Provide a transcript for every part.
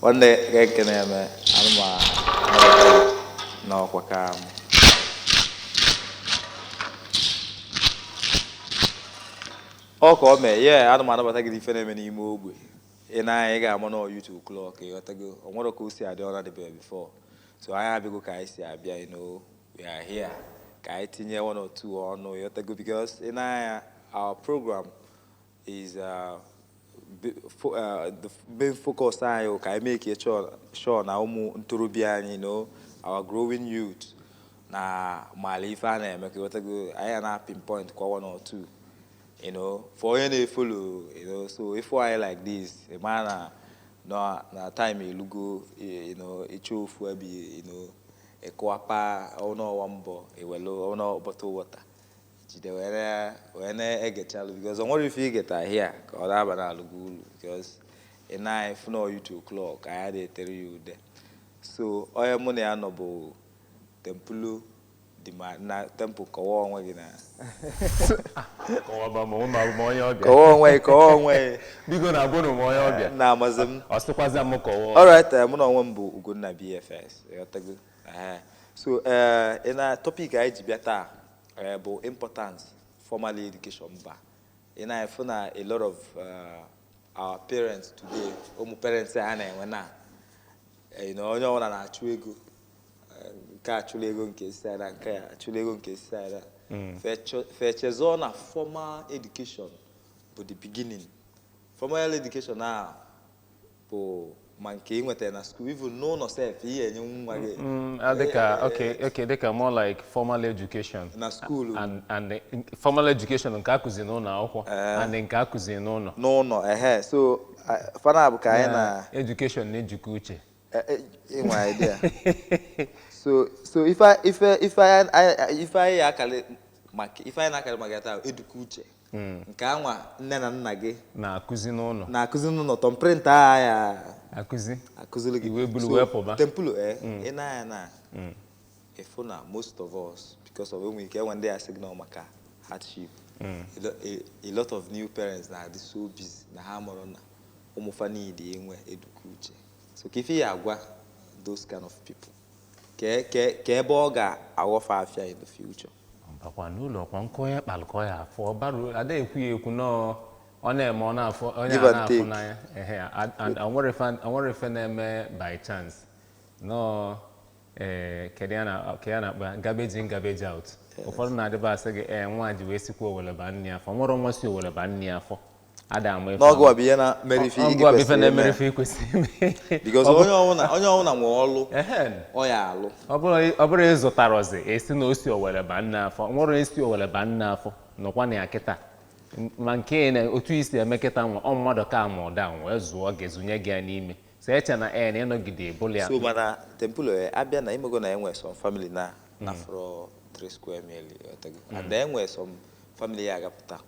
nwanne ka ekene eme anụma n'ọkwa ka m ọ ka ọ mee ya anụma anabata gị ife na-eme n'ime ogbe i nee anya ị ga-ama na ọ yụ two o'clock ịghọtago o nwere ka o si adị ọ na-adịbeghị before so anyị abịago ka anyị si abịa you know We are here ka anyị tinye one or two ọnụ ịghọtago because i nee anya our program is uh, uh, the main focus anyị ka anyị make sure na ụmụ ntorobịa anyị you know our growing youth na mala ife a na-eme ka ịghọtago anyị na pinpoint kwa one or two you know for onye na-efolo you know so ife like this ị ma na na time elugo you know ị chọọ ofu ebe you know Ịkụwakwa ọnụ ọwa mbọ ewelu ọnụ bottle water jide wee na- wee na-egechalụ because o nwere ife igeta here a ka ọ na-aba na-alụ gị ulu because i nee anya ị fụ na ọ yụ two o'clock anyị adịghị etere ya ude so onye mụ na ya nọ bụ Temple dị ma na Temple kọwa onwe gị na kọwaba ma ụmụ abụ m onye ọbịa kọwa onwe gị kọwa onwe gị biko na abụrọ m onye ọbịa na-amazi m ọ sịkwazị m kọwa alright mụ na onwe m bụ Ugonna BFS so ị na topic anyị ji bịa taa bụ importance formal education mba ị na-afụ na a lot of our parents today ụmụ parents anyị na-enwe na na onye ọbụla na-achụ ego nke achụla ego nke isi ara nke a achụla ego nke isi ara fa echezọ na formal education bụ the beginning formal education a bụ ma nke i nweta na school even n'ụnọ sef ihe enye nwa gị Mm, ah, dịka okay okay dịka more like formal education na school and and the- formal education nke akụzi n'ụnọ akwụkwọ and nke akụzi n'ụnọ n'ụnọ ehe so ah, fa naabọ ka anyị na education na eduka uche eh, eh, i nwe idea so so ife ife ife anyị- anyị- ife anyị akalị maka ife anyị na-akalị maka ya taa eduka uche hmm. nke anwa nne na nna gị na-akụzi n'ụnọ na-akụzi n'ụnọ thumbprint a ya akụzi akụziri gị i wee bulu wee pụba Temple eh, hmm. i nee anya na hmm. ị fụ na most of us because of enwe ike enwe ndị ya-asị gị na ọ maka hardship a lot of new parents na-adị so busy na ha amarọ na ụmụ fa need inwe eduka uche so kee ife ị ya-agwa those kind of people kee ebe ọ ga-aghọ fa afịa in the future mbakwa n'ụlọ ọkwa nkọ ya kpalụkọ ya afọ baru ada ekwu ya ekwu no ọ na-eme ọ na-afụ onye Give a and na-afụ take. n'anya ehe a- and onwere ife- onwere ife na-eme by chance no ee kedu ya na kedu ya na-akpọ garbage in garbage out ụfọdụ na-adịba asị gị ee nwa ji wee sikwa owele ba nne ya afọ nwere nwa si owele ba nne ya afọ n'ọgụ bụ ihe na-emeri ife because onye ọwụna nwe ọlụ ọ ya alụ ọ bụrụ ịzụtara ọzị a sị na o si owere ba nne afọ nwere esi owere ba nne afọ nọkwa na ya kịta maka na otu e si eme kịta nwa ọ mmadụ ka ma ụda wee zụọ gị zụnye gị ya n'ime so eche na e na ịnọgide ebụla ya so mana Temple eh, abịa na ịmago na enwe some family na mm. afford 3 square meal and enwe some family ya agapụta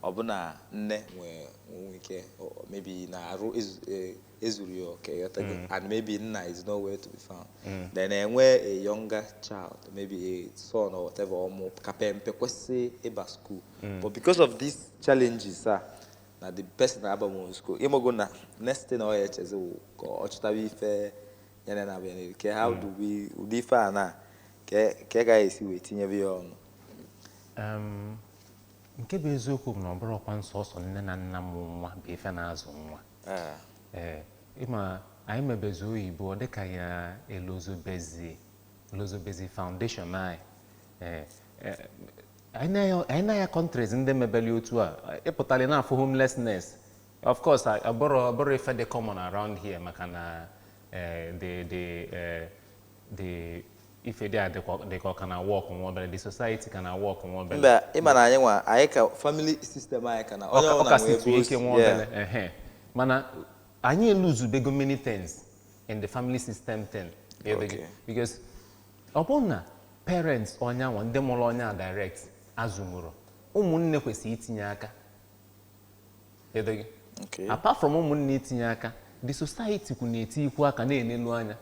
ọbụna nne nwee nwe ike o- o- maybe na arụ ezu- e- ezurọ ya oke ghọtago and maybe nna is nowhere to be found then enwe a younger child maybe a son or whatever ụmụaka pempe kwesị ịba school but because of these challenges a na the person abarọ school ịmago na next thing ọ ya echezi wụ ka ọ chụtaba ife ya na na-abịa n'elu kee how do we ụdị ife a na kee ka a ga-esi wee tinyebe ya ọnụ Um, nke bụ eziokwu bụ na ọ bụrọkwa nsọsọ nne na nna mụ nwa bụ ife na-azụ nwa ee ee ị ma anyị mebezi oyibo ọ dịka anyị elozobezi elozobezi foundation anyị ee ee, anyị na-aya- anyị na-aya countries ndị mebeli otu a ịpụtali na-afụ homelessness of course a- abụrọ abụrọ ife dị common around here maka na eh, the the eh, the ife dị a dịkwa- dị ka ọ ka na-awork nwa obere the society ka na-awork nwa obere but ị ma na anyị nwa anyị ka family system anyị ka na Ọ onye ka- ọ ọbụla ka nwee situo ebe o ike si nwa yeah. obere ehe. mana anyị elozobego many things in the family system thing Ịghọtago? Okay. because ọ bụrụ na parents onye anwa ndị mụrụ onye a direct azụnwurọ ụmụnne kwesịrị itinye aka Ịghọtago? Okay. apart from ụmụnne itinye aka the society kwu na-etikwu aka na-enelu anya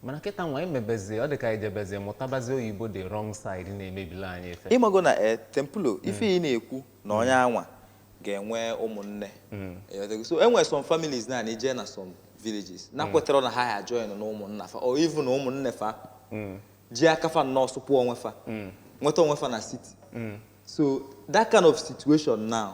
mana kịta nwa emebezie ọ dị ka e jebezie mụtabazi oyibo the wrong side na-emebila anyị ife ịmago na e eh, Temple hmm. ife ị na-ekwu na onye anwa ga-enwe ụmụnne hmm. eh, so enwere some families na i je na some villages na hmm. kwetara na ha ya join na ụmụnna fa or even na ụmụnne fa ji aka fa nnọọ sụpụ onwe fa nweta onwe fa na city so that kind of situation now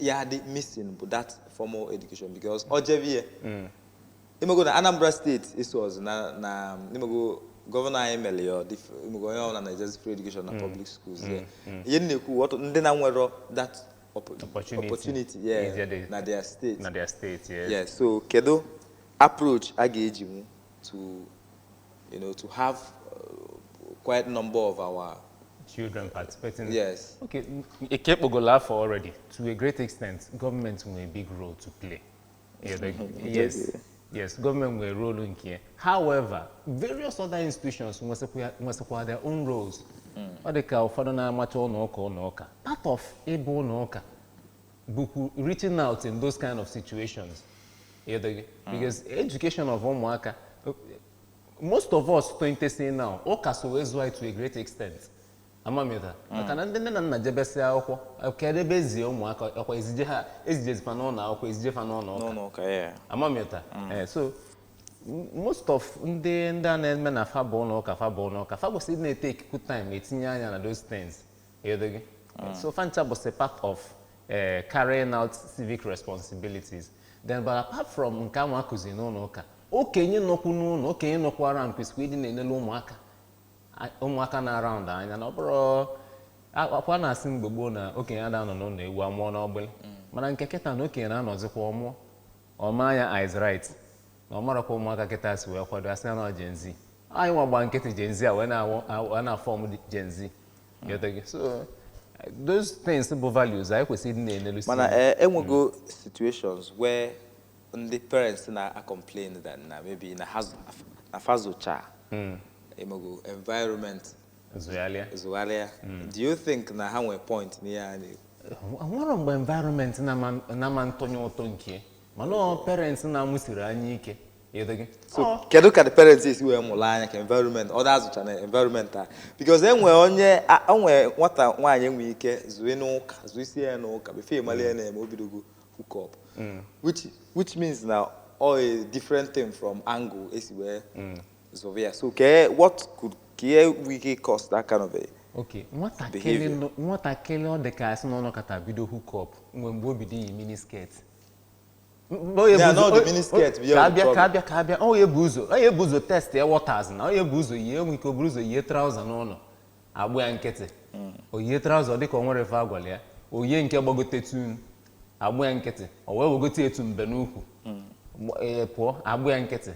ya dị missing bụ that formal education because ọ jebe ihe mm. ịmago na Anambra state eso ọzọ na na ịmago governor anyị mere ya ịmago onye ọbụla na-ejezi free education na mm. public schools mm. ihe m na-ekwu ndị na-enwerọ that opportunity na their state na their state yes so kedu approach a ga-eji nwu to you know to have uh, quite number of our children participating. Yes. Okay, ị kpọgolu afa already, to a great extent, government nwere big role to play. Yeah, the, yes. Yes, government nwere role nke ya. However, various other institutions nwesịkwa their own roles. Mm. Ọ dị ka ụfọdụ na-amacha ụlọ ụka ụlọ ụka. Part of ịbụ ụlọ ụka bụkwu reaching out in those kind of situations do you get because education of ụmụaka most of us tonitesị na ọ ụka so wee zụọ to a great extent amamịta maka na ndị nne na nna jebesịa akwụkwọ kedụ ebe ezie ụmụaka ọkwa ezije ha ezijezi fa n'ụlọ akwụkwọ ezije fa n'ụlọ ụka n'ụlọ ụka ya amamịta Eh, so m- most of ndị ndị a na-eme na fa bụ ụlọ ụka fa bụ ụlọ ụka fa kwesịrị na-etake good time etinye anya na those things Do you get? so fancha bụsị part of eh, carrying out civic responsibilities then but apart from nke ahụ akụzi n'ụlọ ụka okenye nọkwu n'ụlọ okenye nọkwu around kwesịrị ịdị na-enele ụmụaka a- ụmụaka nọ around anya na ọ bụrọ ka a na-asị mgbe gboo na okenye ada anọ n'ụlọ ewu amụọ n'ọgbụlị mana nke kịta na okenye na-anọzikwa ọ mụọ ọ maa anya eyes right na ọ marọ ka ụmụaka kịta si wee kwado asị na ọ Gen Z anyị nwa gba nkịtị Gen Z a wee na-awụ- awụ- a na-afọm Gen Z Ghọta gị? so those things bụ values anyị kwesịrị ịdị na-enelu mana eh, enwego situations where ndị parents na-acomplain that na maybe na ha zụ- na fa zụcha emego environment zụgharịa zụgharịa do you think na ha nwere point n'ihe ha na-ekwu nwere mgbe environment na-ama ntụnye ụtụ nke mana ọ parents na-amụsiri anya ike do you get so Ọ, kedu ka the parents esi wee mụrụ anya ka environment ọ na-azụcha na environment a because enwe onye a- enwe nwata nwaanyị enwe ike zụa n'ụka zụsịe ya n'ụka before ị malị ife na-eme o bidogo hook up which which means na ọ a different thing from angle esi wee zụọ ya so kee what could kee nwe ike cause that kind of a okay nwatakịrị Behavior. nọ- nwatakịrị ọ dị ka asị na ọ nọkata bido hook up nwe mgbe o bido iyi mini skirt onye Ya bụ na ọ dị ụzọ- miniskirt bụ ya ka bụ abịa ka problem. abịa ka abịa ọ ya-ebu ụzọ ọ ya-ebu ụzọ testie waters na ọ ya-ebu ụzọ yie enwe ike o buru ụzọ yie traụza n'ụlọ agba ya nkịtị o yie traụza dịka o nwerọ ife agwala ya o yie nke gbagote tụ agba ya nkịtị o wee wegote etu mbe n'ukwu Gba- ee, pụọ agba ya nkịtị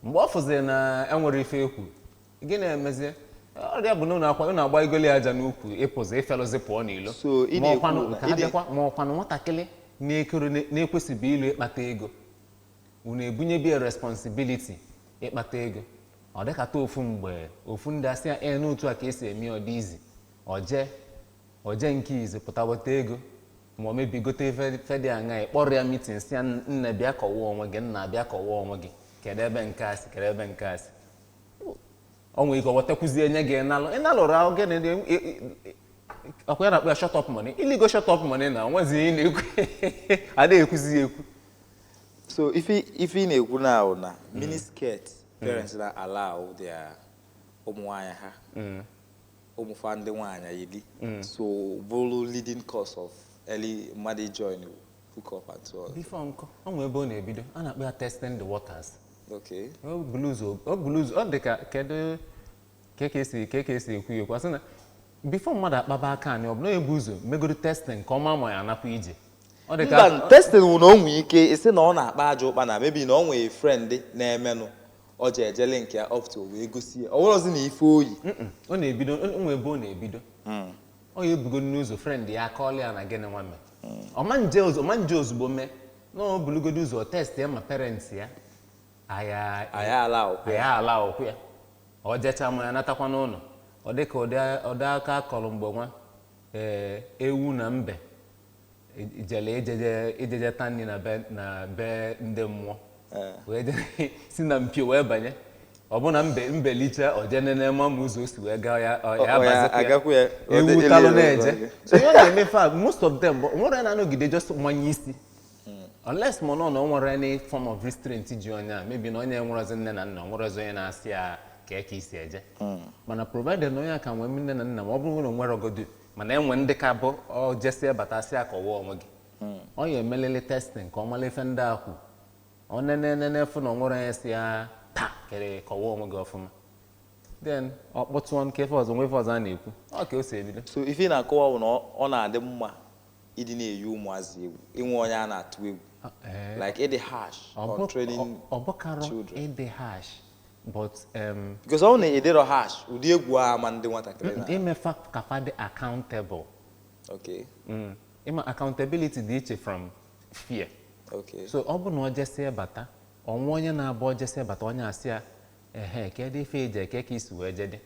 mgbe ọ fụziri na enwerọ ife ekwu gịnị emezie ọ bịa bụ na unu akwa unu agba igoli aja n'ukwu ịpụzi ịfelụzi pụọ n'ilo So, ị ma na-ekwu ọkwanụ na- ka ị ha na- bịakwa ma ọkwanụ nwatakịrị na-ekoro na-ekwesịbụ ilu ịkpata ego unu ebunyebe ya responsibility ịkpata ego ọ dịkata ofu mgbe ọ fụ ndị asị ya ee n'otu a ka esi eme ọ dị easy o jee o jee nke easy pụta weta ego ma ọ maybe gote ife ife dị aṅa ị kpọrọ ya meeting sị ya nne bịa kọwa onwe gị nna bịa kọwa onwe gị kedu ebe nke a si kedu ebe nke a si o nwere ike o wetakwuzie nye gị ị nalụ ị nalụrụ ahụ gị na ị- ị- ị- ọkwa ya na-akpọ ya shut up money i ligo shut up money na o nwezi ihe ị na-ekwu adịghị ekwuzi ya ekwu so ife ife ị na-ekwu na ahụ na miniskirt parents na allow their ụmụ nwaanyị ha ụmụ fa ndị nwaanyị yiri mm. so bụrụ leading cause of early mmadụ join hook up and so on. before nkọ o nwee ebe ọ na-ebido a na-akpọ ya testing the waters okay ọ bụrụ ụzọ ọ bụrụ ụzọ ọ dị ka kedu ka e si ka e si ekwu ya okwu a sị na before mmadụ akpaba aka anyị ọ bụ na ebu ụzọ megodo testing ka ọ ma ma ya anakwa ije mba testing wụ na o nwee ike ịsị na ọ na-akpa ajọ ụkpa na maybe na o nwee friend na-emenụ ọ ji ejele nke ya up to wee gosi ya ọ wụrọzi na ife o yi ọ na-ebido nwee ebe ọ na-ebido hmm. ọ ya ebugodo ụzọ friend ya akọọlụ ya na gịnị nwa mee hmm. ọ ma nje ozugbo mana o bulugodo ụzọ test ya ma parents ya aya ala okwu ya ọ jecha ma ya natakwa n'ụlọ ọ dịka ụdị aka a kọrọ mgbe nwa ee eh, ewu na mbe e- jele ijeje ijeje ta nri na be na be ndị mmụọ Ee. wee je- si na mpio wee banye ọ bụ na mbe mbe liche o je nene ma ma ụzọ o si wee gaa ya ọ- Ọ- ya ọ ya abazikwa ya. agakwa ya, ọ dị- ewu ele talụ ya na-eje ụzọ. so ihe ọ na-eme fa most of them bụ nwere onye na-anọgide just manye isi unless ma nọ na o nwere any form of restraint ji onye a maybe na onye enwerọzi nne na nna o nwerọzi onye na-asị ya kee ka i si eje mana provided na onye a ka nwee nne na nna ma ọ bụrụ na o nwerọgodu mana e nwe ndị ka bụ ọ jesie batasịa kọwa onwe gị ọ ya emelele testing ka ọ mara ife ndị a kwu ọ nene nene fụ na o nwerọ onye sị ya taa kere kọwa onwe gị ọfụma then ọ kpọtụọ nke ife ọzọ nwe ife ọzọ a na-ekwu ọ ka o si ebido so ife ị na-akọwa bụ na ọ- ọ na-adị mma ịdị na-eyi ụmụazị egwu inwe onye a na-atụ egwu Ah, eh. like ịdị harsh Ọ on bụ- training ọ- ọ bụkarọ children. ịdị harsh but um, because ọ na-adịrọ harsh ụdị egwu a ma ndị nwatakịrị na ime fa ka fa dị accountable okay mm. ị ma accountability dị iche from fear okay so ọ bụ na ọ jesie bata o nwee onye na-abụ ọ jesie bata onye asị ya ehe kedu ife i je kee ka i si wee jede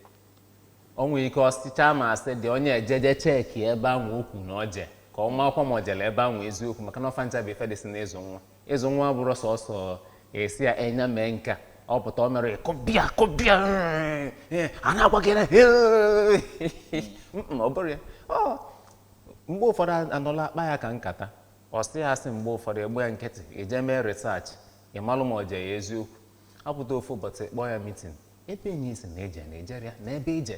o nwere ike ọ sịcha ma asị dị onye ejeje check ebe ahụ o kwu na o je ka ọ makwa ma ọ jere ebe ahụ eziokwu maka na ọ fa ncha bụ ife dịsị n'ịzụ nwa Ịzụ nwa abụrụ sọsọ ịsị ya enyi a mee nke a, ọ pụta o mere ị kụba ya kụba ya ee, a na-agwa gị na ee. Mm, ọ bụrụ ya Ọ, mgbe ụfọdụ anọla akpa ya ka nkata ọ sị ya asị mgbe ụfọdụ ị gba ya nkịtị i je mee research ị malụ ma o je ya eziokwu apụta ofu ụbọchị kpọọ ya meeting ebe enyi ị sị na i je na e jere ya na ebe i je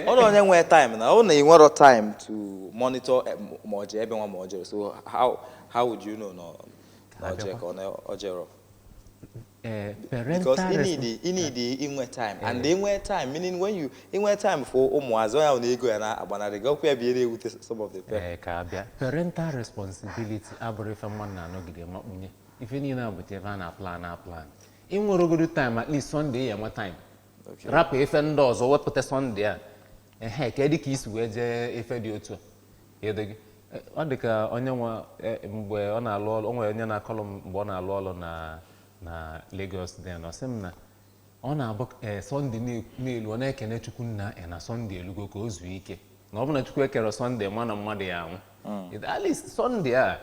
ọrụ onye nwee time na ọ na i nwerọ time to monitor eh, ma o je ebe nwa ma o jerọ so how how would you know na o je ka o jerọ Eh, because you need you need eh. inwe time eh. and inwe time meaning when you inwe time for ụmụazị onye ahụ na ego ya na-agbanarị gị ọkwa ya bịara ewute some of the parents. ka a bịa parental responsibility abụrụ ife mmadụ na-anọgide makpunye ife niile a bụcha ife a na-aplan aplan i nweregodu time at least Sunday ya enwe time Okay. rapụ ife ndị ọzọ wepụta Sunday a ehe kedụ ka i si wee jee ife dị otu a Ịdị gị? Eh, ọ dị ka onye nwe eh, mgbe ọ na-alụ ọrụ o nwere onye na-akọlụ m mgbe ọ na-alụ ọrụ na na Lagos then ọ sị m na ọ na-abụ eh, Sunday na- na-elu ọ na-ekene Chukwu nna na Sunday elugo ka o zuo ike na ọ bụ na Chukwu ekerọ Sunday ma na mmadụ ya-anwụ at least Sunday a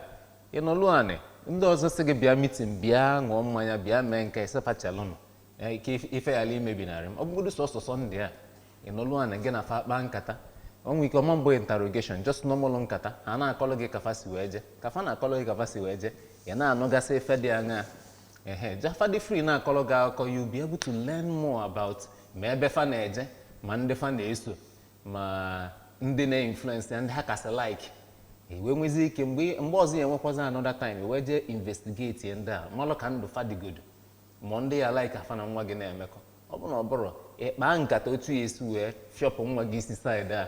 Ị nọlụ anị, ndị ọzọ sị gị bịa meeting, bịa ṅụọ mmanya, bịa mee nke ị sị kpachalụnụ anya ka if- ife ghara imebinarị m. Ọ bụgodu sọsọ Sunday a, ị nọlụ anị gị na fa kpaa nkata. O nwere ike ọ ma-abụ interrogation, just normal nkata. Ha na-akọlụ gị ka fa si wee je. Ka fa na-akọlụ gị ka fa si wee je, ị na-anụgasị ife dị aṅaa. Ehe, ka fa dị free na-akọlụ gị akụkọ, you be able to learn more about ma ebe fa na-eje ma ndị fa na-eso. ma ndị na-influence ya ndị ha kasị like i wee nwezi ike mgbe mgbe ọzọ ya enwekwazi another time i wee jee investigate ya ndị a malụ ka ndụ fa dịgodo ma ndị ya like ka fa na nwa gị na-emekọ ọ bụrụ na ọ bụrọ ị kpaa nkata otu ị ya-esi wee fịọpụ nwa gị isi side a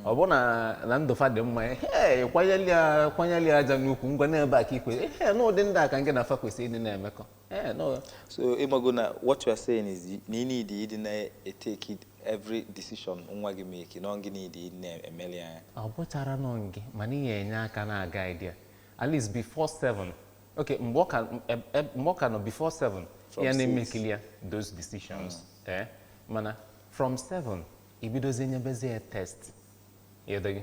ọ bụ na ndụ fa dị mma ee kwanyeli ya aja n'ukwu ngwa n'ebe a ka i kwe ee na ụdị ndị a ka gị na fa kwesịrị ịdị na-emekọ Yeah, no. So ị mago na what you are saying is na ị need ịdị na-etake every decision nwa gị make na gị need ịdị na-emeli ya. Ọ bụcharọ na ọ gị mana ị ya-enye aka na-aguide ya at least before seven okay mgbe ọ ka e, e, mgbe ọ ka nọ before seven ya na-emekili ya those decisions mm. eh mana from seven i bidozie nyebezi ya test ịdịghị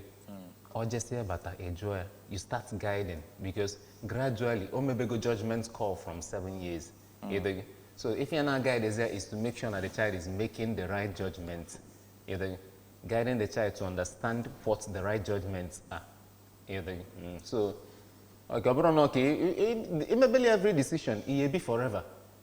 o jesịa bata ị jụọ ya you start guiding because gradually o mebego judgment call from seven years ịdịghị so ife ị ya na-aguide is there is to make sure na the child is making the right judgment ịdịghị guiding the child to understand what the right judgments are ịdịghị Mm, so ọ ga- ọ bụrụ na ọ ka ị- ị- ị- i mebeli every decision ị ya-ebi forever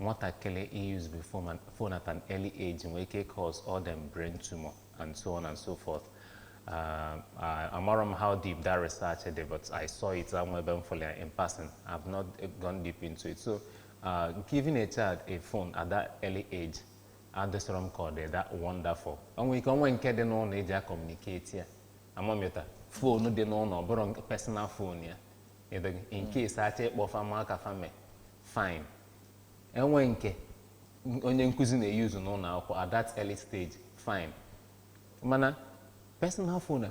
Nwatakịrị usebe phone at an early age nwere ike cause all them brain tumor and so on and so forth. Uh, I, amarọ m how deep that research dị but I saw it o nwe ebe m fụrụ ya in passing. I've not gone deep into it. So uh, giving a child a phone at that early age adịsịrọ m ka ọ dị that wonderful. O nwere ike o nwe nke dị n'ụlọ e ji acommunicate ya. Amamịta phone dị n'ụlọ ọ bụrọ personal phone ya. Ịdịghị in case a chọọ ịkpọ fa ma ka fa me. fine enwe nke onye nkụzi na-use n'ụnọ akwụkwọ at that early stage fine mana personal phone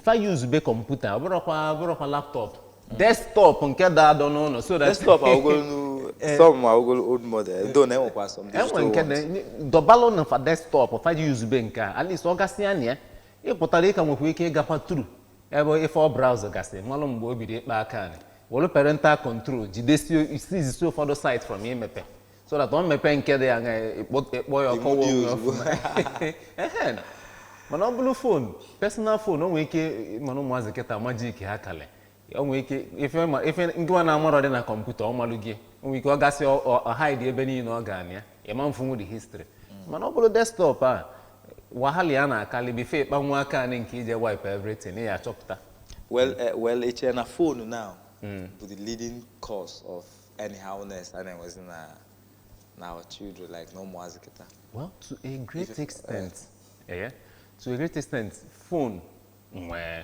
fa use be computer ọ bụrụkwa ọ bụrụkwa laptop desktop nke da adọ n'ụnọ so that desktop awụgolo nu eh. some awụgolo old model though na enwekwa some enwe digital nke ones. dị dọbalụ na fa desktop fa ji use be nke a at least ọ gasịa na ya ị pụtara ị ka nwekwa ike ịgakwa through ebe ife ọ browse gasị malụ mgbe o bido ịkpa aka anị welụ parental control jidesie ụfọdụ site from imepe so that ọ mepee nke dị anya ịkpọ ya ọkọwa Iwu dị onwe ozugbo. ọfụma. Ehe. mana ọ bụrụ phone personal phone o nwere ike mana ụmụazị kịta majik ha kalị o nwere ike ife ma- ife ngịwa na-amarọ dị na computer ọ malụ gị o nwere ike ọ gasị ọ- ọ- ọ hide ebe niile ọ ga-anị ya ịma mfụnwu the history mana ọ bụrụ desktop a wahala ya na-akalị before ịkpa nwa aka anị nke iji wipe everything ya achọpụta well eh, well i chere na phone now hmm. bụ the leading cause of anyhowness a na-enwezi na na our children like na ụmụazị kịta well to a great extent eh, eh, to a great extent phone nwee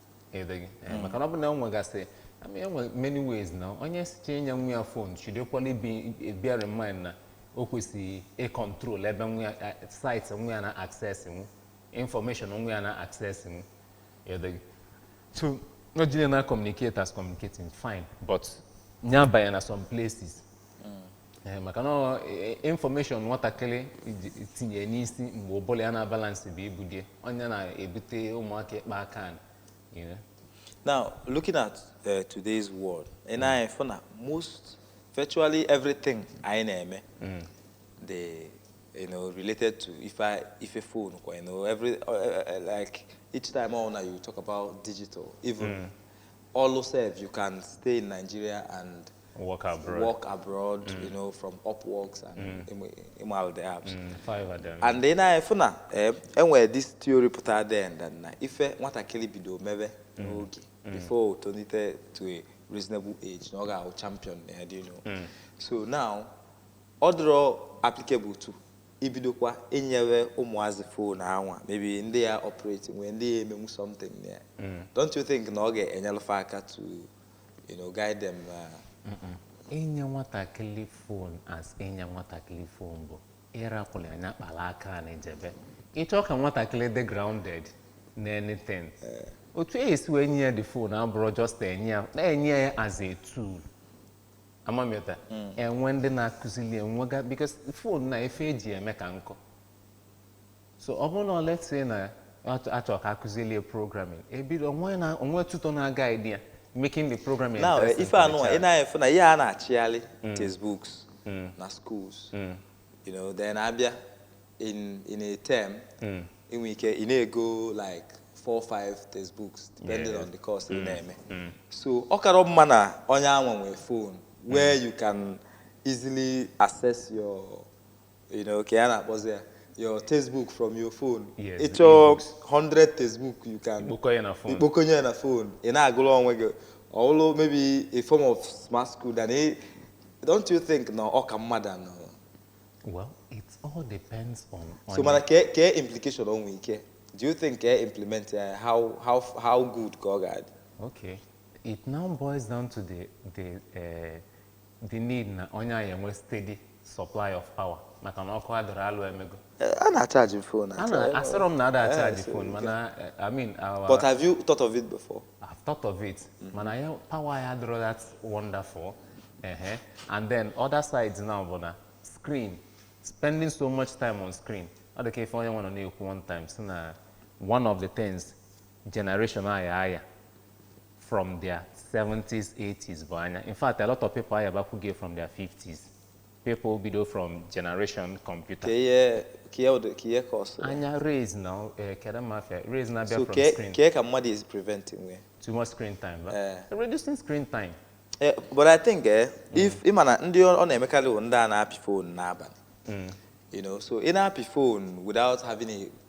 edeghị Eh, maka na ọ bụ na o nwegasị I mean, enwe many ways na onye sị ka enye nwa ya phone should equally bear in mind na o kwesịrị ịcontrol ebe nwa ya eh, site nwa ya na access nwu information nwa ya na access nwu edeghị so na o jide na communicate as communicating fine but nya banye na some places Ee, maka na ọ, e- e- information nwatakịrị tinye n'isi mgbe ụbụlụ ya na balance beghị bụ dị ọ nya na-ebute ụmụaka ịkpa aka anị, you know. Now, looking at uh, today's world, ị na-afụ na most, virtually everything anyị na-eme dị, you know, related to ife ife phone, you know, every uh, uh, uh, like each time ọ wụ na you talk about digital, even ọlụ sef you can stay in Nigeria and work abroad, work abroad mm. you know, from Upworks and mm. Imal the apps. Mm, five of them. And then I found out, eh, and where this theory put out there, and then if eh, what I kill it, do maybe mm. okay mm. before turn it eh, to a reasonable age, no guy champion, eh, do you know? Mm. So now, other applicable to ibidokwa enyewe ụmụazị fon anwa maybe ndị ya operate nwee ndị ya emenwu something there. Mm. Don't you think na ọ ga-enyelụfe aka to you know, guide them. Uh, inye nwatakịrị phone as inye nwatakịrị phone bụ ịrakwụrụ anya kpara aka na ijebe ịchọ ka nwatakịrị dị grounded na anything eh. otu e si wee nye ya the phone abụrụ just enye ya na-enye ya as a tool ama m ịghọta hmm. enwe ndị na-akụzili enwega because phone na ife eji eme ka nkọ so ọ bụrụ na ọ let's say na ya achọ- achọrọ ka akụzieli ya programming ebido o nwe na o nwe tutor na guide ya making the programming now eh, interesting ife for the anụnwa ị child. naghị efu na ihe a na-achịgharị textbooks na schools you know then abịa in in a term inwe ike ị na-ego like four or five textbooks depending Yes. on the course ị na-eme so ọ kara mma na onye anwa nwee phone where you can easily access your you know, ka ya na-akpọzi ya your textbook from your phone Yes, ị the chọọ ebooks. 100 textbook you can Ikpokọ ya na phone. ikpokọnye ya na phone ị na-agụrụ onwe gị ọwụlụ maybe a form of smart school than ị- don't you think na ọ ka mma than ịnọ Well, it all depends on, on so mana kee kee implication o nwee ike do you think ka implement ya how how how good ka ọ ga-adị Okay. It now boils down to the the uh, the need na onye a ya-enwe steady supply of power maka na ọkụ adịrọ alụ emego Eh, a na-achaji m fon a na asịrọ m na ada achaji phone Eh, so you mana eh, i mean our but have you thought of it before I've thought of it. Mana power ya adịrọ that wonderful. Uh-huh. And then other sides now bụ na screen spending so much time on screen. Ọ dị ka ife onye nwe nọ na-ekwu one time sị na one of the things generation a ya-aya from their 70s 80s bụ anya in fact a lot of people ayabakwugo from their 50s people bido from generation computer ka ihe ka ihe ụdị- ka ihe causịrị anya rays na eh, kedu mafia rays na-abịa so from kee screen kee ka mmadụ is preventing we too much screen time ba? Eh. reducing screen time Eh, but i think eh, if ị ma na ndị ọ ọ na-emekarị bụ ndị a na-apị fon n'abalị you know so ị na-apị fon without having a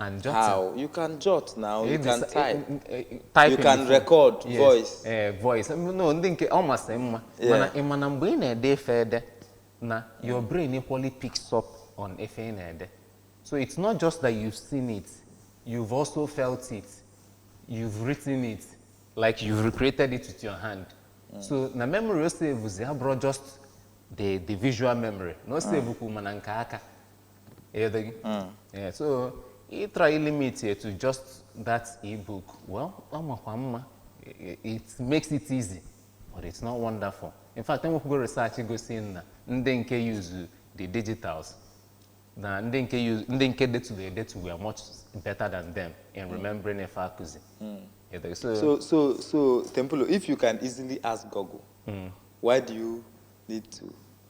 and jotting. How? You can jot now, you can type. type you can record yes. voice. Eh, voice. No, I think ọ masịrị mma. Mana ị ma na mgbe ị na-ede ife ede na your brain equally picks up on ife ị na-ede. So it's not just that you've seen it, you've also felt it, you've written it, like you've recreated it with your hand. Mm. So na memory o save abụrọ just the, the visual memory. Na o save ah. kwu ma na nke aka. ị ghọtago Yeah, so ị try ilimit ya to just that ebook well ọ makwa mma I- it makes it easy but it's not wonderful in fact e nwekwugo research gosi na ndị nke use the digitals na ndị nke use ndị nke detugo edetu were much better than them in remembering ife a kụzi Ị ghọtago? so So, so, so, Tempolo, if you can easily ask Google, why do you need to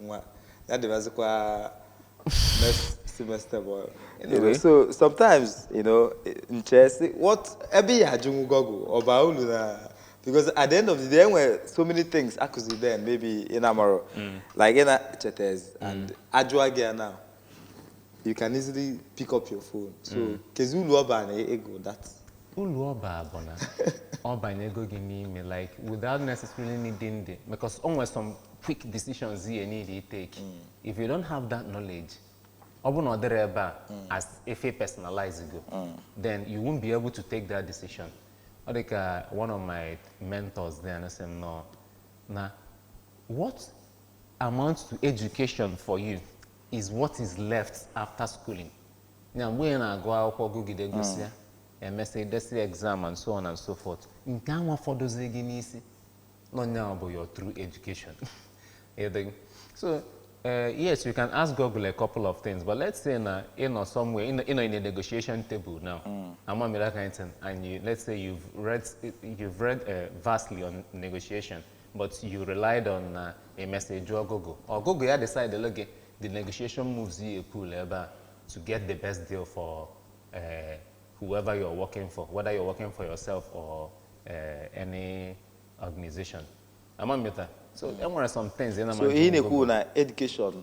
nwa ya-adịbazikwa next semester bụ anyway Really? so sometimes you know m chee sị what ebe a ya-ajụnwu Google ọ ba ulu na because at the end of the day e nwere so many things a kụzi then maybe ị na-amarọ like ị na-echetazi and a jụọ gị ya now you can easily pick up your phone so mm. keezi ulu ọ ba na ị gụ that ulu ọ ba bụ na ọ banyego gị n'ime like without necessarily needing the because o nwere some quick decisions you need to take mm. if you don't have that knowledge ọ bụrụ na ọ dịrọ ebe a mm. as if ị personalize go mm. then you won't be able to take that decision ọ dị ka one of my mentors then sị m no, na what amount to education for you is what is left after schooling. na mgbe ị na-agụ akwụkwọ gụgide gụsịa hmm. emesịa desi exam and so on and so forth nke anwa fọdụzi gị n'isi nọnya bụ your true education so Uh, yes, you can ask Google a couple of things, but let's say na you know somewhere in you know in a negotiation table now, mm. I'm on that kind of thing, and you let's say you've read you've read uh, vastly on negotiation. but you relied on na a message ọgụgụ ọgụgụ ya decide elu gị the negotiation moves you pull ebe a to get the best deal for uh, whoever you're working for whether you're working for yourself or uh, any organization ama mmeta so e nwere some things ị na so ihe na-ekwu na education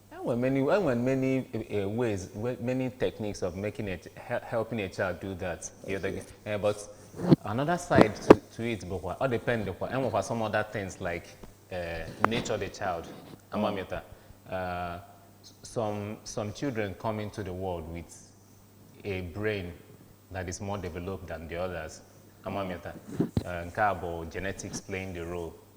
Enwere many enwere many uh, ways many techniques of making it helping a child do that the other okay. uh, but another side to, to it bụkwa ọ depend kwa enwekwa some other things like uh, nature the child amamịta oh. uh, some some children come into the world with a brain that is more developed than the others amamịta uh, nke a bụ genetics playing the role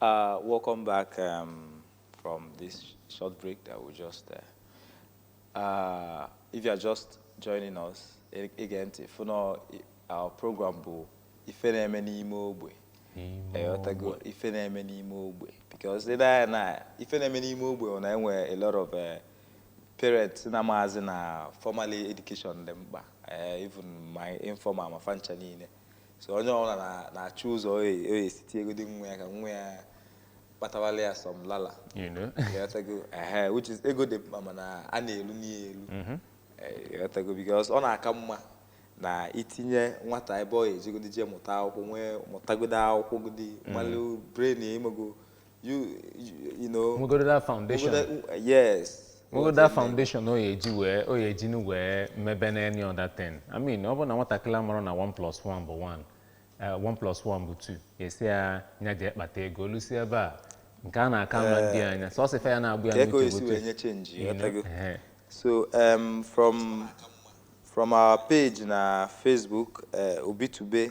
Uh, welcome back um, from this short break that we just. Uh, uh, if you are just joining us e- again, if you know our program, bụ ife na-eme n'ime ogbe. Ịghọtago ife na-eme n'ime ogbe because ị na-anya na ife na-eme n'ime ogbe ọ na-enwe a lot of uh, parents na-amazi na formal education dị mkpa eh, even ma informal ma fa ncha niile so onye ọbụla na-achụ ụzọ ọ ya-esi tiegodi nwa ya ka nwa ya kpatawala ya some lala which is ego dị mma mana a na-elu n'ihe elu mm-hmm. eh, because ọ na-aka mma na itinye nwata ebe ọ ya ejegodi jee mụta akwụkwọ nwee mụtagodo akwụkwọ godi mm-hmm. malụ brain ya ịmago you you know nwegodo that foundation Obodo- yes nwegodo that foundation ọ ya-eji wee ọ ya-eji nụ wee mebe na any other thing i mean ọ bụrụ na nwatakịrị amarọ na 1 plus 1 bụ 1 eh, 1 plus 1 bụ 2 a sị ya nya jee kpata ego olusi ebe a nke a na-aka ama ndị anya sọsọ ife ya na-agba ya ka ego n'uche esi bụ wee otu- nye chenji you know, ghọtago? ehe. so um, from from our page na facebook uh, obitube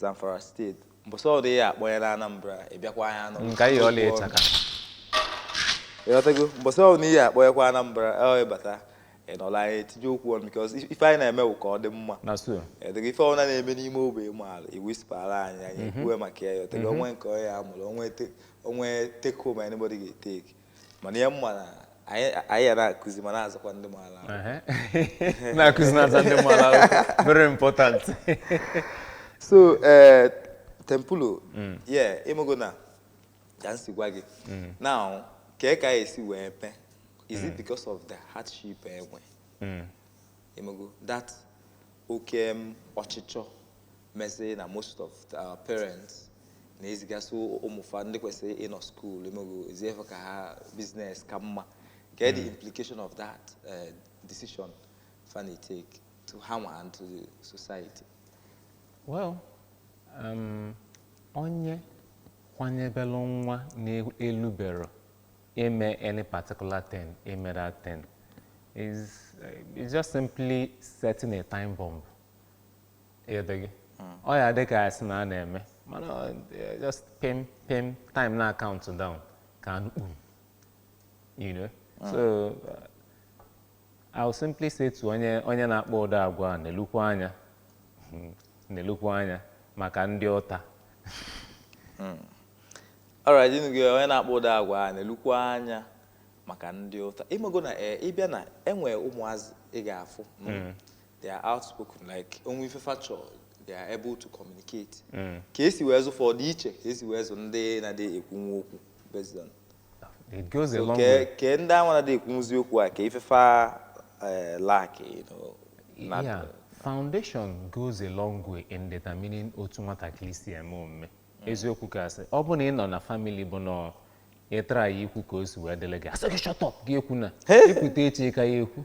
Zamfara State mbọsị ọdụ ya akpọnye na Anambra ị bịakwa anyị anọ nka ihe ọla ịchaka ịghọtago mbọsị ọdụ ihe akpọnyekwa Anambra ọ ịbata ịnọla anyị etinye okwu ọnụ because if- ife anyị na-eme bụ ka ọ dị mma na so ịghọtago ife ọbụla na-eme n'ime ogbe ị maara ị whispera anyị anyị ekwuwe maka ya ịghọtago o nwee nke onye ya-amụrụ o nwee te- o nwee take home anybody ga-etake mana ya mma na anyị anyị ya na-akụzi ma na-azụkwa ndị mmadụ ahụ. Ehe. na-akụzi na-azụ ndị mmadụ ahụ very important so eh, Temple o yeah ịmago na ka m si gwa gị now kee ka anyị esi wee mee is it because of the hardship e nwe ịmago that oke em ọchịchọ mezi na most of our parents na-ezigasị ụmụ fa ndị kwesịrị ịnọ school ịmago e zie fa ka ha business ka mma kedụ hmm. implication of that uh, decision fa na-etake to ha and to the society well um, onye kwanyebelụ nwa na-elubero eme any particular thing eme that thing is uh, it's just simply setting a time bomb ịghọtaghị ọ ya dị ka a sị na a na-eme mana ọ dị- just pim pim time na-acount down ka a nụ kpum you know so uh, I will simply say to onye onye na-akpa ụdị agwa a nelukwa anya nelukwa anya maka ndị ụta alright edo gị onye na-akpa ụdị agwa a nelukwa anya maka ndị ụta ịmago na ee ị bịa na e nwe ụmụazị ị ga-afụ they are outspoken like o nwe ife fa chọ they are able to communicate mm. ka esi wee zụ fa dị iche ka esi wee zụ ndị na-adị ekwunwu okwu based on it goes a long way ke ndị anwa na-adị ekwunwuzi okwu a ka ife fa eh, lack you know yeah foundation goes a long way in determining otu nwatakịrị si eme omume mm. eziokwu ka a sị ọ bụ na ị nọ na family bụ na ị try ikwu ka o si wee dịlị gị a sị gị shut up gị ekwuna i kwu taa echi ka ị ya-ekwu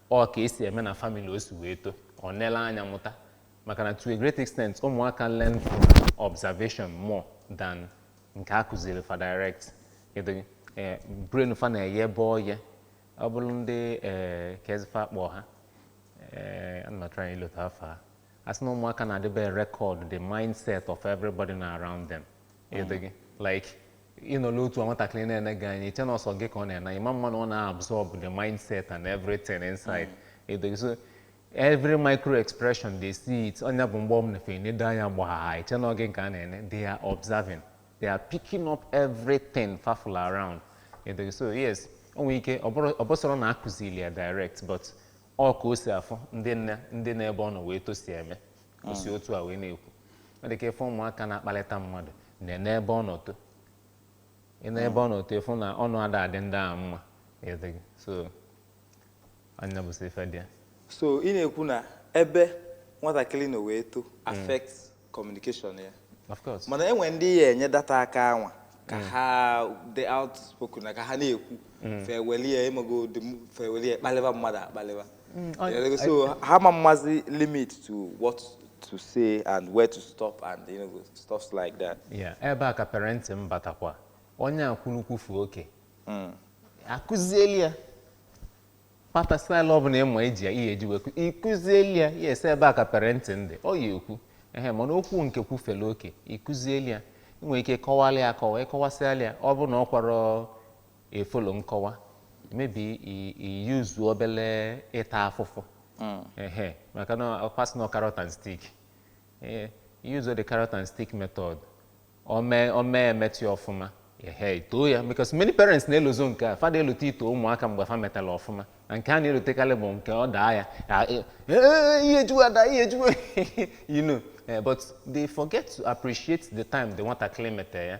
Ọ ka esi eme na family o si wee to, ọ nele anya mụta maka na to a great extent ụmụaka learn from observation more than nke a kụzili fa direct. Edo gị? Ee, brain fa na-eye ebe ọ ye. Ọ bụrụ ndị ee kezi ife a kpọ ha ee ana m atry ilota afa ha a sị na ụmụaka na-edebe record the mindset of everybody nọ around them. Edo gị? Like ị nọla otu a nwatakịrị na-ene gị anya i chee na ọ sọ gị ka ọ na-ene ị ma-ama na ọ na-absorb the mindset and everything inside edo gị so every micro expression they see it ọ nya bụ mgbe ọ bụla fa nedo anya gbaa i chee na ọ gị ka a na-ene they are observing they are picking up everything fa fụla around edo gị so yes o nwere ike ọ bụrụ- ọ bụsọrọ na a kụzili ya direct but ọ ka o si afụ ndị n- ndị n'ebe ọ nọ wee too si eme o si otu a wee na-ekwu ọ dị ka ị fụ ụmụaka na-akpalịta mmadụ nenee ebe ọ nọ too i nee ebe ọ nọ too ị fụ na ọnụ ada adị ndị ahụ mma edo gị so ọ nya bụzi ife dị ya so ị na-ekwu na ebe nwatakịrị nọ wee too affect communication ya of course mana e nwere ndị ị ya-enye that aka anwa ka ha dị outspoken na ka ha na-ekwu fa ewelie ịmago dị m- fa ewelie kpalịba mmadụ akpalịba Mm, I, yeah, so I, ha amachaghị limit to what to say and where to stop and you know stuff like that. Yeah, ebe a ka parenting batakwa onye kwulu kwufee oke mm. a kụzieli ya pata style ọ bụla ị ma eji ị ya-eji wee kụzieli ya yes ebe a ka parenting dị ọ ya-ekwu ehe mana okwu nke kwufele oke ị kụzieli ya ị nwere ike kọwalị ya akọwa ị kọwasịalị ya ọ bụ na ọ kwara efolo nkọwa maybe i use obele ịta afụfụ hmm. ehe maka na ọ kwa asị na carrot and stick ee use the carrot and stick method o me o me emete ọfụma ehe too ya because many parents na-elozo nke a fa ada elote ito ụmụaka mgbe fa metala ọfụma na nke a na-elotekarị bụ nke ọ daa ya e, e, e, ihe juwa ada ihe juwa you know eh, but they forget to appreciate the time the nwatakịrị metere ya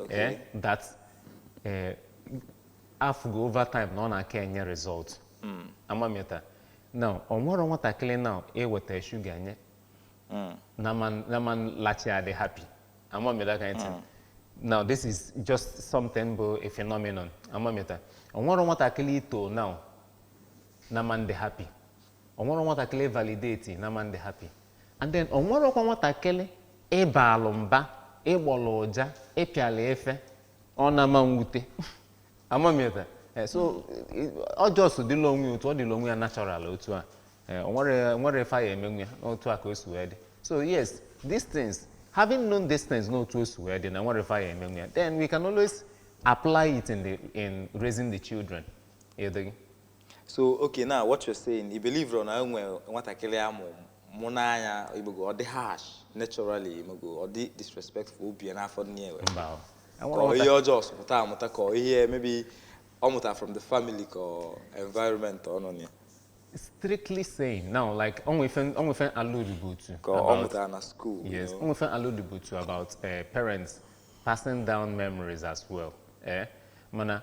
Okay. Eh, that eh, afụgo over time na ọ na-aka enye result ama m ịta na onwero nwatakịrị na iweta sugar nye na man na man lachi adị happy ama m ịta kind thing now this is just something bụ a phenomenon ama m ịta onwero nwatakịrị i too now na man dị happy Onwero nwatakịlị ị validate na man dị happy and then onwero kwa nwatakịlị ị baalụ mba, ị gbọlụ ụja, ị pịalị ife. Ọ na ma nwute. Ama m ịta. Eh, so eh, ọ just dịla onwe ya otu ọ dịla onwe ya natural otu a. Eh, onwero onwero ife a ya emenwu ya n'otu a ka o si wee dị. So yes, these things, having known these things n'otu o si wee dị na onwero ife a ya emenwu ya, then we can always apply it in the in raising the children. Indeed. so okay now what you're saying ị believe na enwe nwatakịrị amụ mụ n'anya ịmago ọ dị harsh naturally ịmago ọ dị disrespectful obi ya n'afọ nne ya mba o. ka ọ ihe ọ just pụta amụta ka ọ ihe maybe ọ mụta from the family ka ọ environment ọ nọ na ya strictly saying now like onwe ife onwe ife alludebu to ka ọ about- mụta na school you Yes, know. onwe ife alludebu to about uh, parents passing down memories as well. Eh? Mana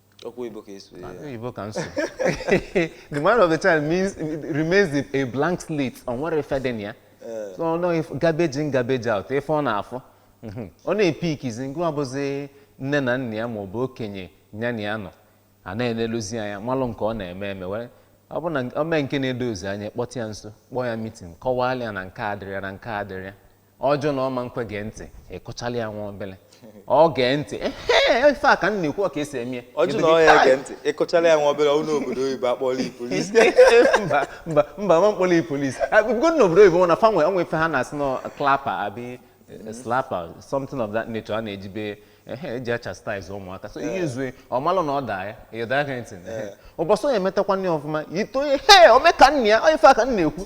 Okwu Igbo ka esu ya. Oyibo ka m sụ. The mind of the child means remains a- a blank slate. Onwero ife dị na ya. So ọ nọghị f- garbage in garbage out ife ọ na-afụ. Mhm. Ọ na-epickizi ngwa ọbụzi nne na nna ya maọbụ okenye ya na ya nọ. A na-eleluzi ya anya malụ nke ọ na-eme eme were ọ bụ na o mee nke na-edozi anya kpọta ya nso kpọọ ya meeting kọwalụ ya na nke a dịrị ya na nke a dịrị ya. ọ jụ na ọ man kwe gee ntị ị kụchala ya nwa obele ọ gee ntị ehe ife a ka m na-ekwu ka esi eme ya ọ jụ na ọ ya-ege ntị ị kụchala ya nwa obere ọ nọ obodo oyibo akpọọla ị police mba mba mba ma mkpọrọ ị police bigo na obodo oyibo na fa nwe onwe ife ha na-asị na clapper abi slapper something of that nature a na-ejibe ehe eji achastise ụmụaka so i use ọ malụ na ọ daa ya ya that kind thing ehe. ụbọchị ọ ya-emetakwanụ ọfụma i too ya he o me ka nna ya ọ ife a ka m na-ekwu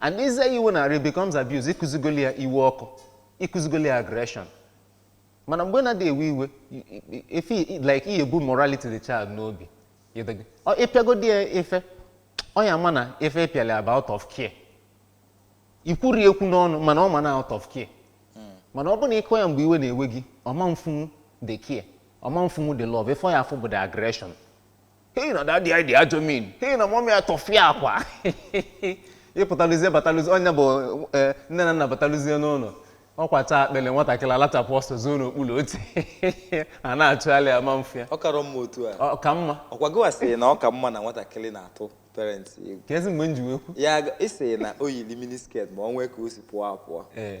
and izi ya iwe n'arụ becomes abuse ịkụzigoli ya iwe ọkụ ịkụzigoli ya aggression mana mgbe na-adị ewe iwe i- i- i- efe i- like ihe bu morality the child n'obi ịdịgị. Ọ ịpịagodi ya ife ọ ya ma na ife ịpịala ya bụ out of care ikwuri ekwu n'ọnụ mana ọ ma na out of care mana ọ bụ na ịkụ ya mgbe iwe na-ewe gị ọ ma afụnwu the care ọ ma afụnwu the love ife ọ ya afụ bụ the aggression hei na dadi anyị dị ajọ mean hei na mọmị atọfịa akwa ịpụtaluzie bataluzi onye bụ eh, nne na nna bataluzie n'ụlọ ọ kwachaa akpịlị nwatakịrị alachapụ ọsọ zoo n'okpuru oche a na-achọgharị ya ama afụ ya ọ karọ mma otu a ọ ka mma ọkwa gịwa sịrị na ọ ka mma na nwatakịrị na-atụ parents egwu kezi mgbe m ji wee kwu ya aga- ị sịrị na o yiri mini skirt ma ọ nwee ka o si pụọ apụọ ee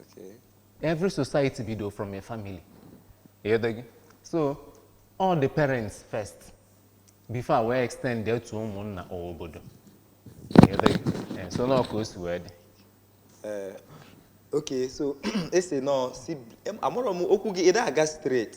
Okay. Every society bido from a family. Ịghọtago? So, all the parents first before e wee extendie to ụmụnna or obodo. Ịghọtago? Eh, So, na ọ ka o si wee dị. Eh, okay so ese nọ si amarọ m okwu gị ịda aga straight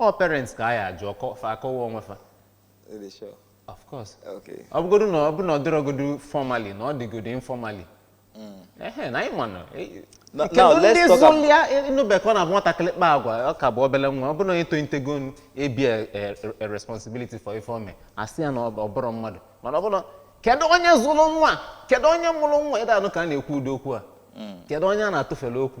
ọ parents ka a ya ajụ okwu fa akọwa onwe fa Really sure. of course Okay. ọ bụgodu na ọ bụ na ọ dịrọgodu formally na ọ dịgodu informally ehe na anyị manụ Na- kedu now, let's ndị talk ab- zụlịa ịnụbe ka ọ na-abụ nwatakịrị kpa agwa ọ ka bụ obele nwa ọ bụrụ na onye tolitego n- ebear a- a- responsibility for ife o me asị ya na ọ bụ- ọ bụrọ mmadụ mana ọ bụrụ na- kedu onye zụrụ nwa kedu onye mụrụ nwa ịda anụ ka a na-ekwu ụdị okwu a kedu onye a na-atụfere okwu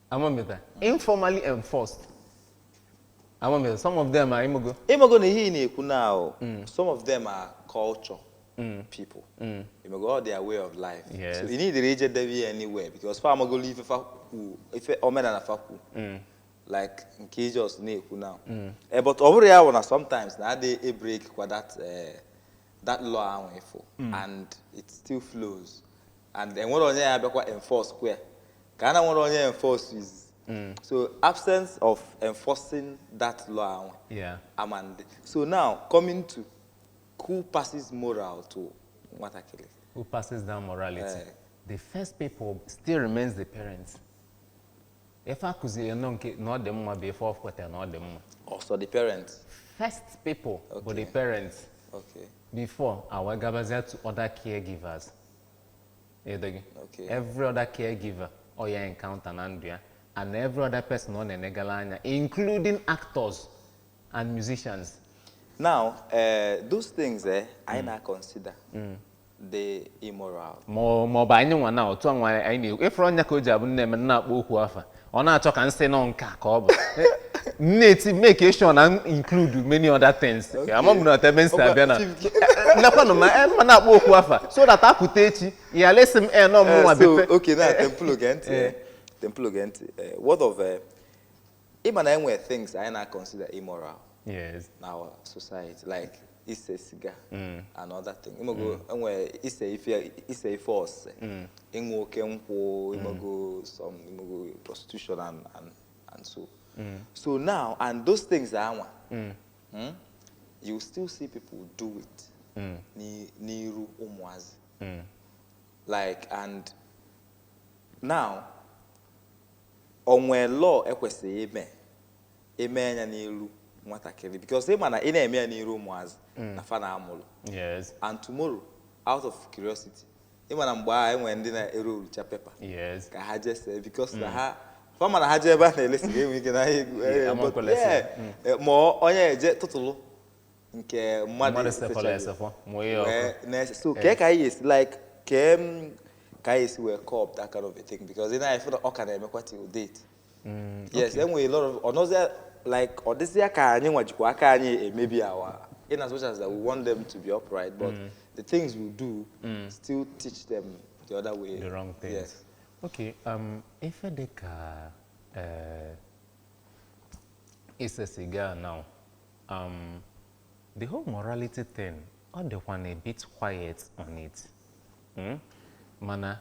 amamita informally enforced amamita some of them are imogo ịmago na ihe ị na-ekwu now some of them are culture people ịmago all their way of life Yes. so ị needirọ ije debe ya anywhere because fa amagolo ife fa kwu ife omenala fa kwu like nke ijos na-ekwu now Eh, but ọ bụrụ ya bụ na sometimes na adị ebreakkwa that eh, that law ahụ ịfụ and it still flows and enwerọ onye ya abịakwa enforcekwa ka a na enwerọ onye enforce is mm. so absence of enforcing that law ahụ yeah. amandị so now coming to who passes moral to nwatakịrị who passes down morality uh, the first people still remains the parents ife akụziri nọ nke na ọ dị mma bụ ife ọ kwetara na ọ dị mma also the parents first people okay. bụ the parents okay. before a wee gabazie to other caregivers ịdịghị Okay. every other caregiver ọ ya encounter na ndụ ya and every other person ọ na-enegara anya including actors and musicians Now, uh, those things are now considered immoral. ma ọ- ma ọ bụ anyị nwa na otu a nwa anyị na-ekwu ịfụrụ ọ nya ka o ji abụ na e mee m na-akpọ okwu afa ọ na-achọ ka nsị nọ nka ka ọ bụ na-eti make sure na include many other things ama m na ebe m si abịa na lekwanụ ma eh, ma na-akpọ okwu afa so that apụta echi ya lesi m eh, nọ m nwa eh, bepe okay na Temple gee ntị Temple gee ntị what of ịma na enwere things anyị na-consider immoral yes. in our society like ise siga mm. and other thing ịmago mm. enwe ise ife ise ife ose mm. ịṅụ oke nkwụ ịmago some ịmago prostitution and and and so so now and those things anwa hmm, you still see people do it n'iru ụmụazị like and now o nwee law ekwesịghị ime eme anya n'iru nwatakịrị because ị ma na ị na-eme ya n'iru ụmụazị na fa na amụrụ yes and tomorrow out of curiosity ị ma na mgbe ahụ enwere ndị na-erolucha paper yes ka ha jee see because na ha fa ma na ha jee ebe a na-ele siga enwe ike na ha egwu- Yeah, eh, ama but nkwele yeah, sị. eh, ma ọ- onye eje tụtụlụ nke mmadụ mmadụ esechaghị. sefọla esefọ mụnye ọkụ Wee na-ese- so kee ka anyị esi like kee ka anyị esi wee curb that kind of a thing because ị na-afụ na ọ ka na-emekwa till date Mm, yes enwere lot of ọnọzia like ọ dịzịa ka anyị nwa jikwa aka anyị emebi our in as much as that we want them to be upright but mm. the things we do mm. still teach them the other way the wrong things yes. okay um, ife dị ka uh, ise siga now um, the whole morality thing ọ dịkwanụ a bit quiet on it mm? mana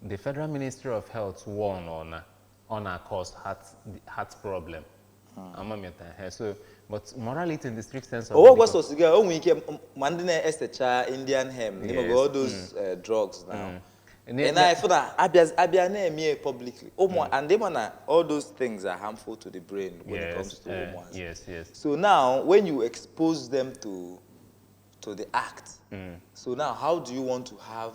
the federal ministry of health warn ọ na ọ na-cause heart heart problem hmm. amamịta ihe so but morality in the strict sense of ọ wụghị sọ siga o nwere ike ma ndị na-esecha indian hemp n'ime all those hmm. eh, drugs now hmm. and I feel that a bịa na-eme publicly ụmụ and ịma na all those things are harmful to the brain when yes, it comes to eh, ụmụazị yes, yes. so now when you expose them to to the act mm. so now how do you want to have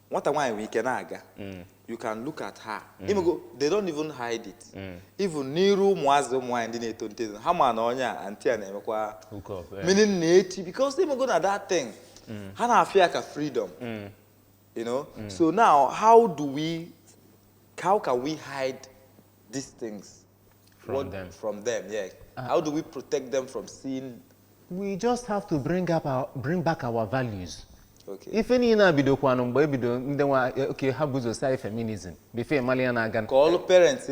nwata nwaanyị nwere ike na-aga mm. you can look at her mm. ịmago they don't even hide it mm. even n'iru ụmụazị ụmụ nwaanyị ndị na-etonite ha ma na onye a aunty a na-emekwa hook up meaning na echi because ịmago na that thing ha na-afụ ya ka freedom you know so now how do we how can we hide these things from what, them. From them, yeah. Uh, How do we protect them from seeing? We just have to bring up our, bring back our values. Okay. Ife niine a bidokwanụ mgbe ebido ndị nwa eh, okay ha buzọ sị anyị feminism before ịmali ya na-aga ka ọlụ parents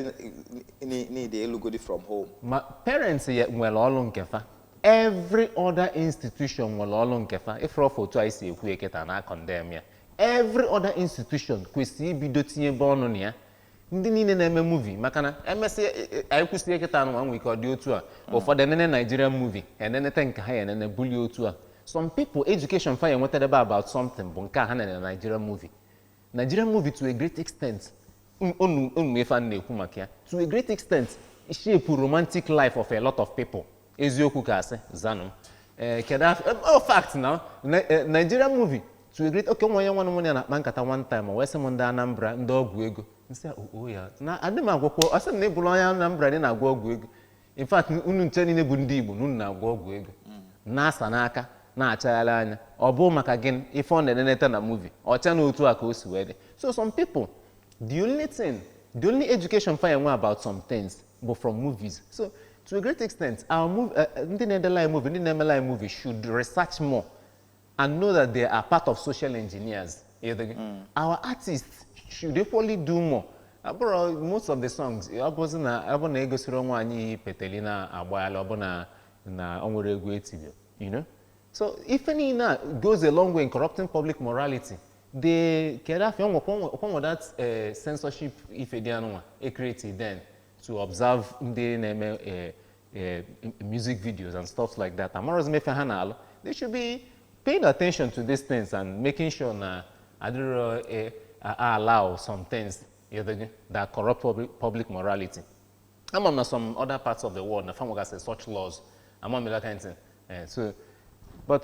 need ịlụgodi from home ma parents ya nwere ọlụ nke fa every other institution nwere ọlụ nke fa ịfụrụ ọfọ otu anyị si ekwu kịtaa na-condemn ya every other institution kwesịrị ibido tinyebe ọnụ na ya ndị niile na-eme movie maka na emesịa e- e- anyị kwụsịrị kịta anụnwa ike ọ dị otu a ụfọdụ enene Nigerian movie eneneta nke ha ya enene bulie otu a some people education fa ya enwetara ebe about something bụ nke a ha na-ene na Nigerian movie Nigerian movie to a great extent m- unu ma ife a na-ekwu maka ya to a great extent shape romantic life of a lot of people eziokwu ka asị zanụ m ee kedu afọ em, ọ fact na na- eh, Nigerian movie to a great okay nwanne nwanne nwanne ya na-akpa nkata one time o wee sị m ndị Anambra ndị ọgwụ ego m sị oo ya na adị m agwakwa ọ sị m na ị bụrụ onye Anambra na ị na-agwọ ọgwụ ego in fact unu ncha niile bụ ndị Igbo na unu na-agwọ ọgwụ ego na-asa n'aka na-achagharị anya ọ bụ maka gịnị ife ọ na-eneneta na movie o chee na otu a ka o si wee dị so some people the only thing the only education fa enwe about some things bụ from movies so to a great extent our mov- eh, eh, ndị na-edela anyị movie ndị na-emela anyị movie should research more and know that they are part of social engineers You think? our artists should equally do more abụrụ most of the songs ọ bụzi na ọ bụ na egosirọ nwaanyị peteli na agbaghala ọ bụ na na o nwerọ egwu etiri you know so ife niile a goes a long way in corrupting public morality the kedu afọ ọkwa enwe that eh, censorship ife dị anụnwa e create then to observe ndị na-eme eh, eh, music videos and stuff like that amarozi m ife ha na-alụ they should be paying attention to these things and making sure na adịrọ eh, a- a- allow some things you know, that corrupt public, public morality ama m na some other parts of the world na fa nwegasị such laws ama m that kind thing Eh, so but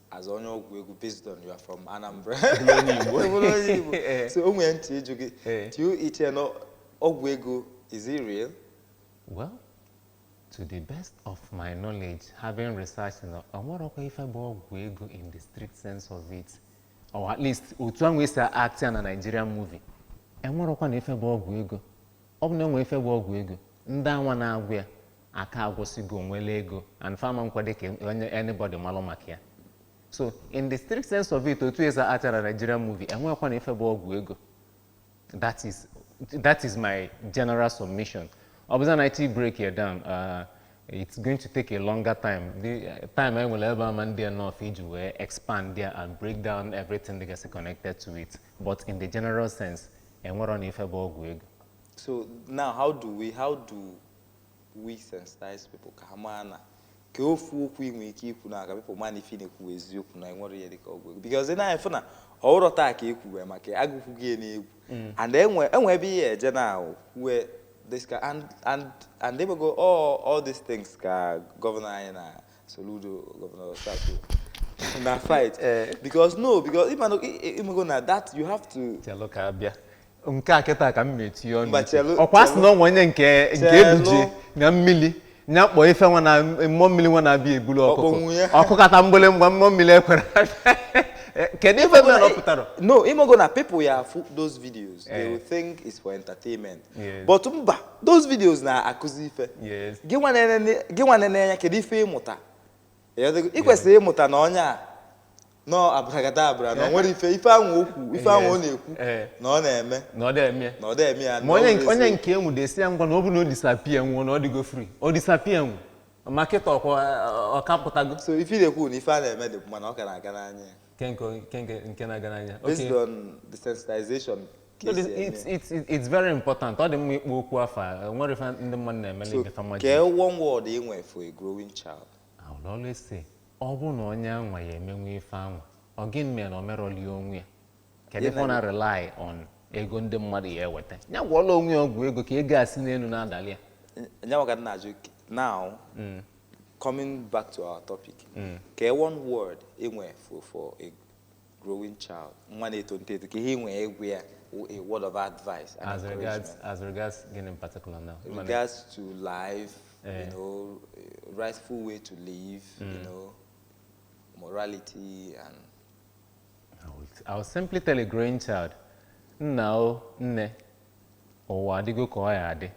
as onye ọgwụ ego based on you are from Anambra onye Igbo onye Igbo eh. so I want to ịjụ gị eh. do you iche na ọgwụ ego is it real? well to the best of my knowledge having researched na o nwerọkwa ife bụ ọgwụ ego in the strict sense of it or at least otu ahụ esi act ya na Nigerian movie enwerọkwa na ife bụ ọgwụ ego ọ bụ na enwe ife bụ ọgwụ ego ndị anwa na-agwọ ya aka agwọsịgo nwele ego and fa ama nkwado ka onye anybody malụ maka ya so in the strict sense of it otu esi act ya na Nigerian movie enwerọkwa na ife bụ ọgwụ ego that is that is my general submission ọ bụza na iti break ya down uh, it's going to take a longer time the uh, time anyị nwere ebe a ama ndị enough iji wee expand there and break down everything that gets connected to it but in the general sense enwerọ na ife bụ ọgwụ ego so now how do we how do we sensitize people ka ha maa na ka ofu okwu ị nwere ike ikwu now ka people maa na ife ị na-ekwu bụ eziokwu na enwerọ ihe dịka ọgwụ ego because na anyị fụ na ọ bụrọ taa ka e kwuwe maka agụkwu gị n'egwu and enwe enwe ebe ihe eje na ahụ kwue this ka and and and ị mago all all these things ka gọvanọ anyị na Soludo Governor start na fight eh. because no because if I no ịmago na that you have to. Chelo ka abịa nke a kịta ka m metinye ọnụ ọkwa asị na o nwe onye nke nke ebuje na mmili nya kpọọ ife nwa na mmụọ mmili nwa na-abịa ebulu ọkụkọ ọ kụkata mgbịlịmgba mmụọ mmili ekwere eh, kedu ife mere ọ pụtarọ no ịmago na people ya afụ those videos they eh. will think it's for entertainment but mba those videos na-akụzi ife gị nwa na-ene ya kedu ife ịmụta ị kwesịrị ịmụta na onye a nọ abrakadabra na nwere ife ife anwa okwu ife anwa ọ na-ekwu eh. na ọ na-eme na ọ dị eme na ọ dị eme ya ma onye nke e nwudesi ya ngwa na ọ bụ na o disappear nwụọ na ọ dịgo free ọ disappear nwụ ma kịta ọkwa ọ ka pụtago so ife na-ekwu na ife a na-eme dị mma na ọ ka na-aga n'anya ya nke nke nke nke nke na-aga n'anya based Okay. on the sensitization ka No, esi this- eme. it's, it's, it's- it's very important ọ dị mma ịkpọ okwu afa o nwere ife ndị mmadụ na-eme so n'ebe fama kee one word ị nwere for a growing child I will always say ọ bụ na onye anwa ya emenwu ife anwa ọ gịnị mere na o merọli onwe ya kedu ife ọ na rely on ego ndị mmadụ ya eweta ya gwọọla onwe ya ọgwụ ego ka ego a si n'enu na-adali ya nyanwa ka m na-ajụ now Coming back to our topic, mm. ka one word enwe for for a growing child, nwa na-eto nteto ka ihe nwee egwu ya a word of advice and as regards as regards gịnị in particular now regards to life uh, you eh. know rightful way to live mm. you know morality and I will, I will simply tell a growing child nna o nne Ụwa adịgo ka ọ ya adị.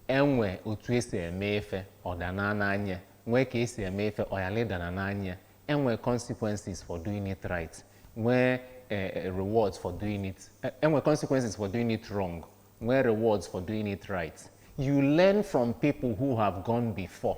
E nwe otu e si eme ife, ọ danaa n'anya. Nwee ka e si eme ife, ọ yalị ịdana n'anya. E nwe consequences for doing it right. Nwee eh, rewards for doing it. eh, E nwe consequences for doing it wrong. Nwee rewards for doing it right. You learn from people who have gone before.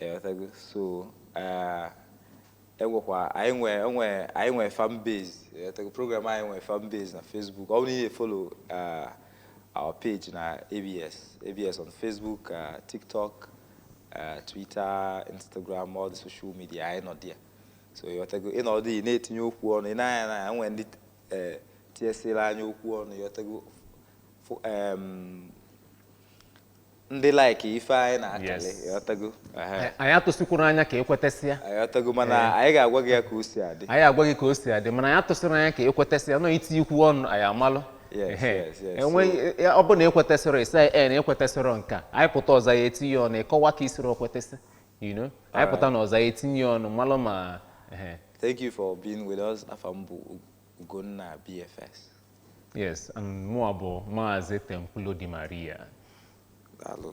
Ịghọtago? So eh, enwekwa anyị nwe enwe anyị nwe fan base ịghọtago program anyị nwe fan base na Facebook ọ bụrụ na ị na-efollow eh, our page na ABS ABS on Facebook eh, TikTok eh, Twitter Instagram all the social media anyị nọ there so ịghọtago enwe ndị na-etinye okwu ọnụ ị na-anya na enwe ndị eh, tinyesili anyị okwu ọnụ ịghọtago fo- em, ndị like ife anyị na-akali Yes. ịghọtago Ehe, Anyị- anyị atụsikwuru anya ka ekwetesịa ịghọtago mana anyị ga-agwa gị ya ka o si adị anyị agwa gị ka o si adị mana anyị atụsịrị anya ka ekwetesịa nọ iti okwu ọnụ anyị amalụ Yes, Ehe. yes, yes. enweghị ya- ọ bụ na ekwetesịrọ ị sị na ekwetesịrọ nka anyị pụta ọzọ ị ya etinye ọnụ ịkọwa ka isiri okwetesị you know anyị pụta na ọzọ ị ya etinye ọnụ malụ ma ehe. thank you for being with us afa m bụ Ugonna BFS Yes, and mụa bụ Maazị Temple Di Maria. daalụ